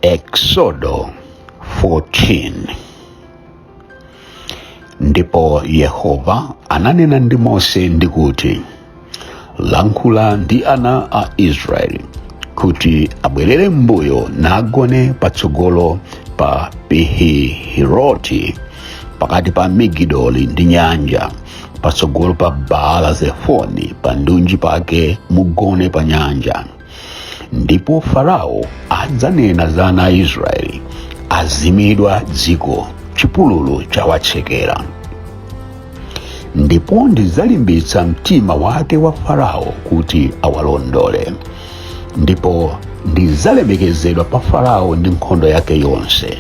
Eksodo 14 Ndipo Yehova ananena ndi Mose ndi kuti, Lankhula ndi ana a Israeli kuti abwerere m'mbuyo nagone patsogolo pa Pihihiroti pakati pa Migidoli ndi nyanja patsogolo pa baala zefoni pandunji pake mugone pa nyanja ndipo farao adzanena za ana a israeli azimidwa dziko chipululu chawatsekera ndipo ndidzalimbitsa mtima wake wa farao kuti awalondole ndipo ndidzalemekezedwa pa farao ndi nkhondo yake yonse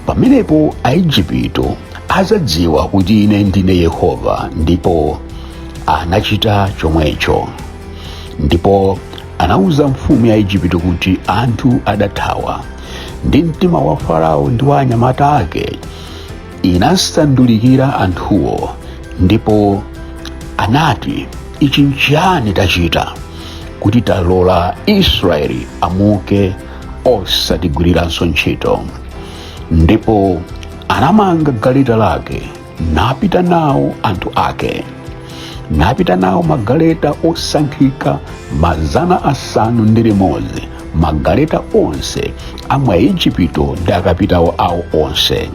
pamenepo aejipito adzadziwa kuti ine ndine yehova ndipo anachita chomwecho ndipo anauza mfumu ya aejipito kuti anthu adathawa ndi mtima wa farao ndi wa anyamata ake inasandulikira anthuwo ndipo anati ichi nchiyani tachita kuti talola israeli amuke osatigwiriranso ntchito ndipo anamanga galeta lake napita nawo anthu ake napita nawo magaleta osankhika mazana asanu ndi limodzi magaleta onse a mwa Ejipito ndi akapitawo awo onse.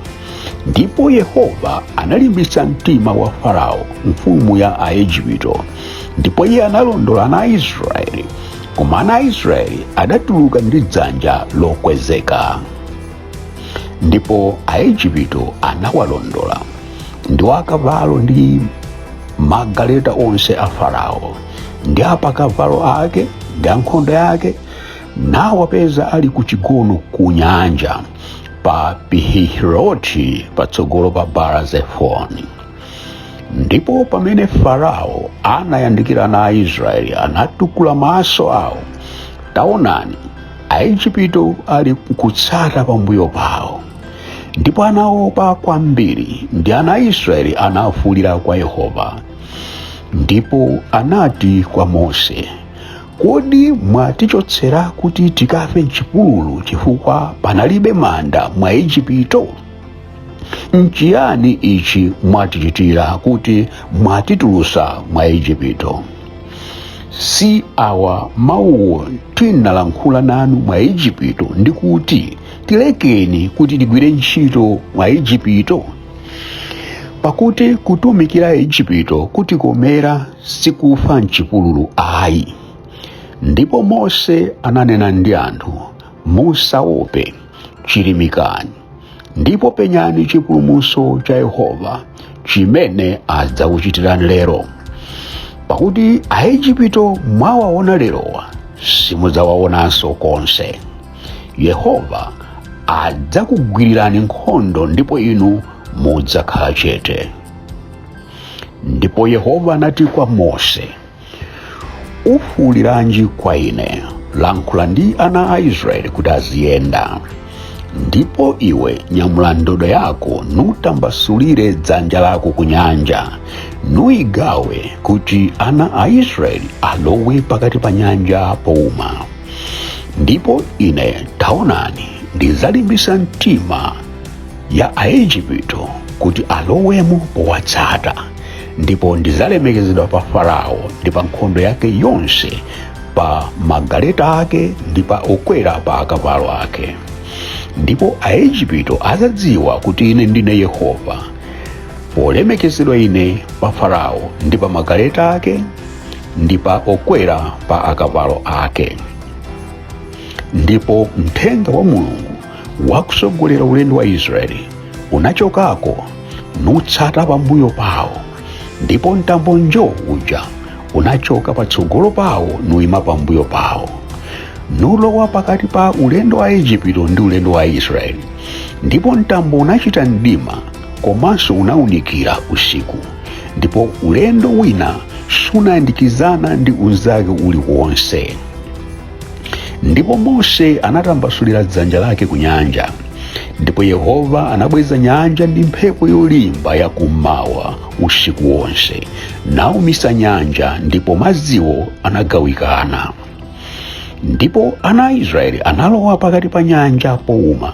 Ndipo Yehova analimbitsa mtima wa Farao mfumu ya Aejipito, ndipo iye analondola ana a Israeli, koma ana a Israeli adatuluka ndi dzanja lokwezeka. Ndipo Aejipito anawalondola ndi akavalo ndi magaleta onse a Farao. ndi apakavalo ake ndi ankhondo yake nawapeza ali ku chigono ku nyanja pa pihihiroti patsogolo pa baala zefoni ndipo pamene farao anayandikira ana aisraeli anatukula maso awo taonani aejipito ali kutsata pambuyo pawo ndipo anaopa kwambiri ndi ana aisraeli anafuulira kwa yehova ndipo anati kwa mose kodi mwatichotsera kuti tikafe mchipululu chifukwa panalibe manda mwa ejipito nchiyani ichi mwatichitira kuti mwatitulutsa mwa ejipito si awa mawuwo tinalankhula nanu mwa ejipito ndi kuti tilekeni kuti tigwire ntchito mwa ejipito pakuti kutumikira ejipito kutikomera sikufa mchipululu ayi ndipo mose ananena ndi anthu musaope chirimikani ndipo penyani chipulumuso cha yehova chimene adzakuchitirani lero pakuti aejipito mwawaona lerowa simudzawaonanso konse yehova adzakugwirirani nkhondo ndipo inu mudzakhala chete ndipo yehova anati kwa mose ufuuliranji kwa ine lankhula ndi ana a israeli kuti aziyenda ndipo iwe nyamula ndodo yako nutambasulire dzanja lako ku nyanja nuigawe kuti ana a israeli alowe pakati pa nyanja pouma ndipo ine taonani ndidzalimbisa mtima ya aejipito kuti alowemo powatsata ndipo ndidzalemekezedwa pa farao ndi pa nkhondo yake yonse pa magaleta ake ndi pa okwera pa akavalo ake ndipo aejipito adzadziwa kuti ine ndine yehova polemekezedwa ine pa farao ndi pa magaleta ake ndi pa okwera pa akavalo ake ndipo mthenga wa mulungu wakusogolera ulendo wa israeli unachokako nutsata pambuyo pawo ndipo mtambo njo uja unachoka patsogolo pawo nuima pambuyo pawo nulowa pakati pa ulendo wa ejipito ndi ulendo wa israeli ndipo mtambo unachita mdima komanso unaunikira usiku ndipo ulendo wina sunayandikizana ndi unzake uliwonse ndipo mose anatambasulira dzanja lake ku nyanja ndipo yehova anabweza nyanja ndi mphepo yolimba ya kummawa usiku wonse naumisa nyanja ndipo madziwo anagawikana ndipo ana a israeli analowa pakati pa nyanja pouma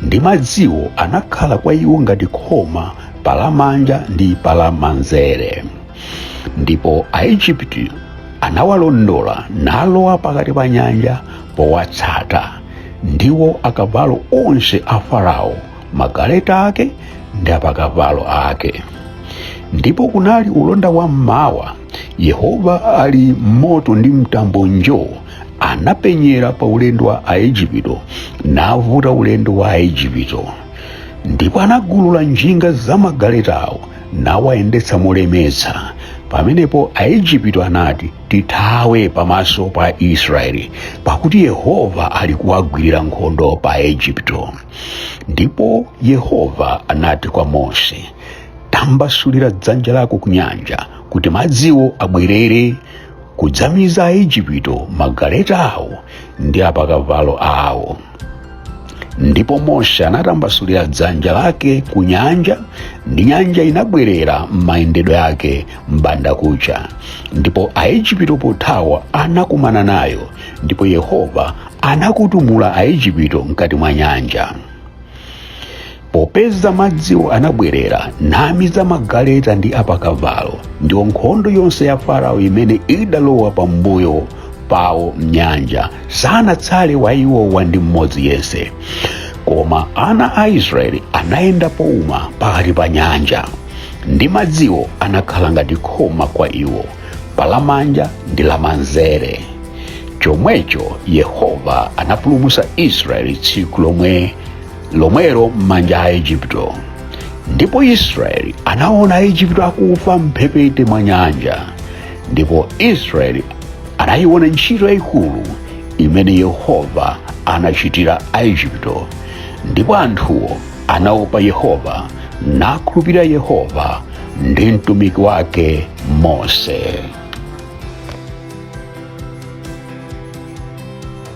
ndi madziwo anakhala kwa iwo ngati khoma palamanja ndi palamanzere ndipo aejipito anawalondola nalowa pakati pa nyanja powatsata ndiwo akavalo onse a farao magaleta ake ndi apakavalo ake ndipo kunali ulonda wa mmawa yehova ali m'moto ndi mtambo njoo anapenyera pa ulendo wa aejipito navuta ulendo wa aejipito ndipo anagulula njinga za magaletawo nawayendetsa molemetsa pamenepo aejipito anati tithawe pamaso pa israeli pakuti yehova ali kuwagwirira nkhondo pa aejipito ndipo yehova anati kwa mose tambasulira dzanja lako ku nyanja kuti madziwo abwerere kudzamiza aejipito magaleta awo ndi apakavalo awo ndipo mose anatambasulira dzanja lake ku nyanja ndi nyanja inabwerera m'mayendedwe yake m'bandakucha ndipo aejipito pothawa anakumana nayo ndipo yehova anakutumula aejipito mkati mwa nyanja popeza madziwo anabwerera namiza magaleta ndi apakavalo ndiwo nkhondo yonse ya farao imene idalowa pambuyo pawo m'nyanja sanatsale wa iwowa ndi mmodzi yense koma ana a israeli anayenda pouma pakati pa nyanja ndi madziwo anakhala ngati khoma kwa iwo palamanja ndi lamanzere chomwecho yehova anapulumutsa israeli tsiku lomwe lomwelo m'manja a Aejipito. Ndipo Israeli anaona Aejipito akufa m'mphepete mwa nyanja, ndipo Israeli anayiona ntchito yayikulu imene Yehova anachitira Aejipito. Ndipo anthuwo anaopa Yehova nakhulupirira Yehova ndi mtumiki wake Mose.